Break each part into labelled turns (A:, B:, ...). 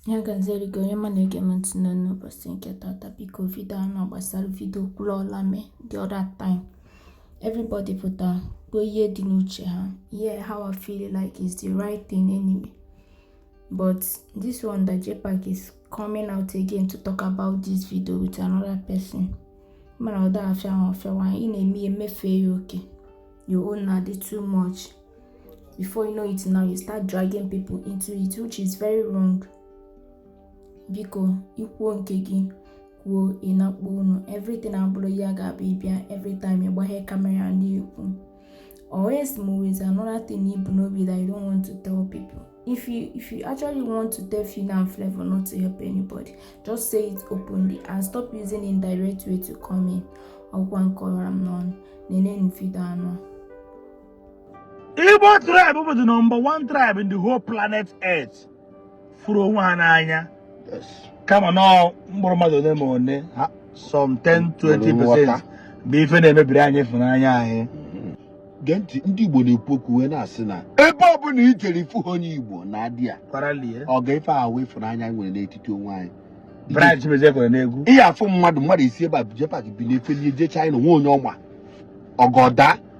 A: Ya gaziere gị onye ọma na-ege m ntị nọ n'ụbọchị nke tata biko vidio anọ gbasara vidio kwuru ọla mee the other time everybody pụta kwuo ihe dị n'uche ha ihe how I feel like is the right thing anyway but this one that jpac is coming out again to talk about this video with another person mana ọ dara afịa ahụ ọfịawa ị na-eme ya mefee ya oke your own na dị too much before you know it now you start dragging people into it which is very wrong biko i kwuo nke gị kwuo ịnakpo unu everything abụrụ ya ga-abụ ị bịa every time ị gbaghee kamera na-ekwu or else mo is another thing you know be that you don't want to tell people if you if you actually want to tell Fina and Flavor not to help anybody just say it openly and stop using indirect way to come in ọkwa nkọrọ m n'ọnụ na-enye nfido anọ Igbo
B: tribe bụ the number one tribe in the whole planet Earth. fụrụ onwe ha n'anya kama na mkpụrụ mmadụ ole ma ole ha some 10 20 percent bụ ife na-emebiri anyị ịfụnanya anyị gee ntị
C: ndị igbo na-ekwu okwu wee na-asị na ebe ọ bụla i jere ị fụhọ onye igbo na-adị ya kwara lie ọ ga-efe ahụ ịfụnanya anyị nwere n'etiti onwe anyị Bright Chimezie
B: kwere n'egwu ihe afụ mmadụ mmadụ
C: esi ebe a Jpac bi na-efelie jee China nwe onye ọ ma ọgọda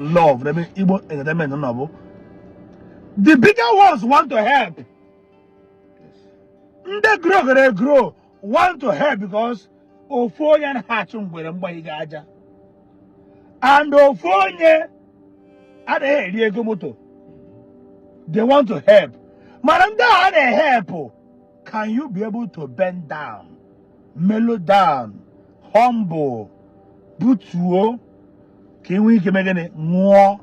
B: love ebe igbo entertainment nọ bụ the bigger ones want to help ndị growgoro grow want to help because ofu onye anaghị achụ ngwere mgbanyega aja and ofu onye adịghị eri ego moto they want to help mana ndị a na-ehelp Can you be able to bend down, mellow down, humble, butuo ka ị nwee ike mee gịnị ṅụọ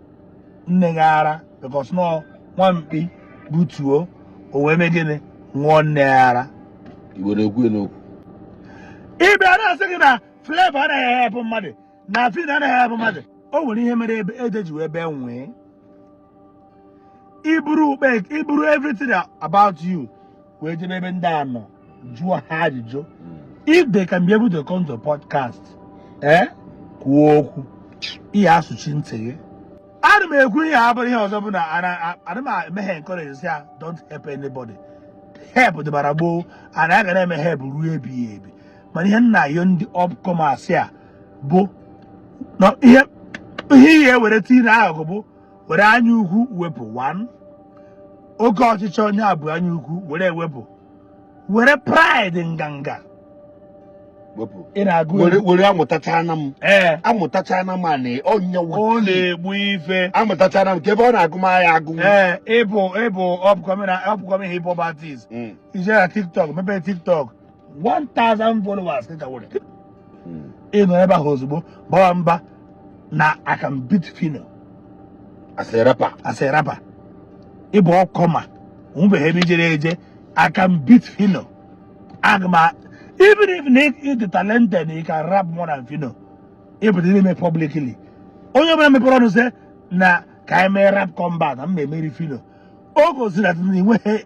B: nne gị ara because na nwa mkpi butuo o wee mee gịnị ṅụọ nne ya ara Igbo
C: na-ekwu ya
B: n'okwu. ị bịa na-asị gị na Flavour anaghị ehelp mmadụ na Phyno anaghị ehelp mmadụ o nwere ihe mere ede ji wee bee nwii i buru ukwe i buru everything about you wee jebe ebe ndị a nọ jụọ ha ajụjụ if they can be able to come to podcast ee eh, kwuo okwu ihe asụchi ntị gị ana m ekwu ihe abụrụ ihe ọzọ bụ na ana m emeghe encourage ya don't help anybody help dịbara gboo and a ga na-eme help ruo ebighị ebi mana ihe m na-ayọ ndị upcomers a bụ ihe ihe ewere tinye n'akụkụ bụ were anya ukwu wepụ 1 oke ọchịchọ ọ nya bụ anya ukwu were wepụ were pride nganga wepụ ị na-agụ were egwu were amụtachana m ee amụtachana m a na onye ọ nwa na-egbu ife amụtachana m ka ebe ọ na-agụ m anya agụ ee ị bụ ị bụ upcoming upcoming hip hop artist Mm. i jee na tiktok mepee tiktok 1000 followers ka i nwere ị nọ ebe ahụ ozugbo bawa mba na I can beat Phyno
C: as a rapper
B: ị bụ upcomer o nwebeghị ebe i jere eje I can beat Phyno aga m a- even if na ị dị talented na ị can rap more than Phyno ị pụta na-eme publicly onye ọbụla mepere ọnụ sị na ka anyị mee rap combat na m na-emeri Phyno o gosiri na ị nweghị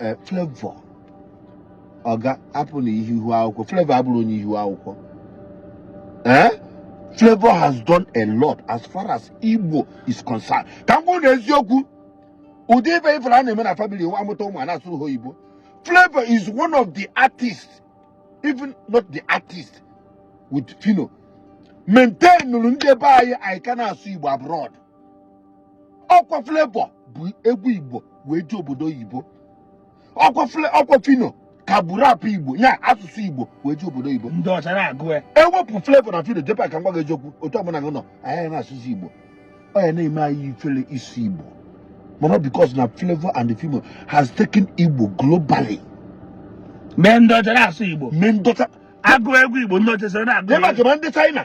C: eh, Flavour ọ ga-apụ na ihe ihu akwụkwọ Flavour abụrụ onye ihu akwụkwọ eh? Flavour has done a lot as far as Igbo is concerned ka m gwa unu eziokwu ụdị ife ifere a na-eme na family nwa amụta ụmụ a na-asụrụ ha oyibo Flavour is one of the artists even not the artist with Phyno maintainụrụ ndị be anyị anyị ka na-asụ Igbo abroad ọkwa Flavour bu egwu Igbo wee jee obodo oyibo ọkwa Phyno ka bu rap Igbo ya asụsụ Igbo wee jee obodo oyibo ndị ọcha na-agụ ya
A: ewepụ Flavour na Phyno
C: jee park ka m gwa gị eziokwu otu ọbụla gị nọ anyị na-asụ Igbo ọ ya na-eme anyị ifere ịsụ Igbo mana because na Flavour and Phyno has taken Igbo
A: globally mee ndị ọcha na-asụ Igbo mee ndị ọcha
C: agụ egwu Igbo
A: ndị ọcha soro na-agụ ebe a ndị China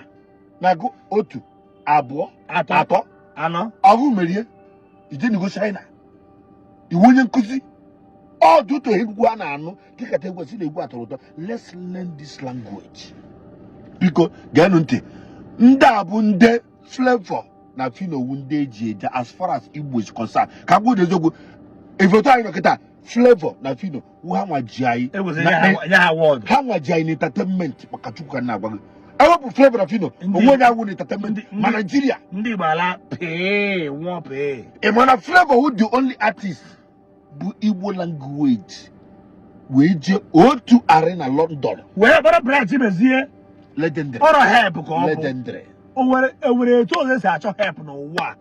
C: na-agụ otu abụọ atọ anọ
A: ọrụ
C: merie i jenugo China ị wụ onye nkụzi ọ dị ụtọ egwu a na-anụ kekata egwu sị na egwu atọrọ ụtọ let's learn this language biko geenụ ntị ndị a bụ ndị Flavour na Phyno wụ ndị eji eje as far as Igbo is concerned ka m gwa unu eziokwu ị fụ otu anyị nọ kịta Flavour na Phyno ha nwa ji anyị ha nwa ji anyị n'entertainment maka chukwu ka m na-agwa gị ewepụ Flavour na Phyno o nwee onye a wụ n'entertainment ma Naịjirịa ndị Igbo ala
A: pee nwụọ pee ị ma na Flavour
C: wụ the only artist bu Igbo language wee jee O2 Arena London wee kpọrọ Bright
A: Chimezie legendary ọrọ
C: help ka ọ bụ
A: legendary o nwere
C: o
A: nwere etu ọzọ e si achọ help n'ụwa a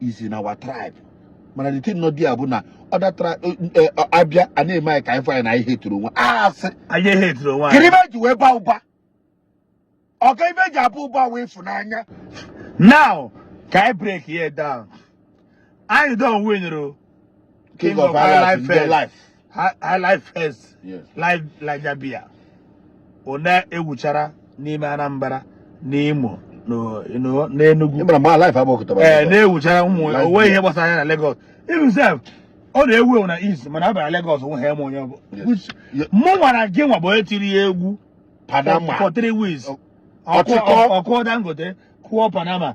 C: is in our tribe mana the thing nọ there bụ na other tribe eh, eh, eh, abịa a na-eme anyị ka anyị fụ anyị na anyị hate-ụrụ onwe asị anyị hate-iri onwe kiri
A: anyị ife eji wee baa
C: ụba ọga ife eji aba ụba wụ ịfụnanya now
A: ka anyị break here down anyị don win o King, King of, of
C: High Life Fest. Life. High, high
A: Life Fest. Yes.
C: Life
A: Lager Beer. Ọ na-ewuchara n'ime Anambra n'Imo n'Enugu. Ịmara ma life agbakọtara. Ee, eh, na-ewuchara ụmụ onwe ihe gbasara ya na Lagos. Even sef, ọ na-ewu ewu na East mana abịara Lagos nwe ha eme onye ọ bụ. Mụ nwara gị nwa bụ etiri ya egwu. Panama. For
C: three
A: weeks. Ọ kụọ Dangote kụọ Panama.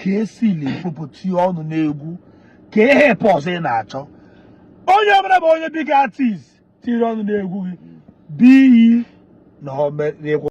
A: ka esi na ifupu tinye ọnụ n'egwu ka ihe epe ọzọ ị na-achọ onye ọbụla bụ onye big artist tiri ọnụ n'egwu gị bụ iyi na ọmekwa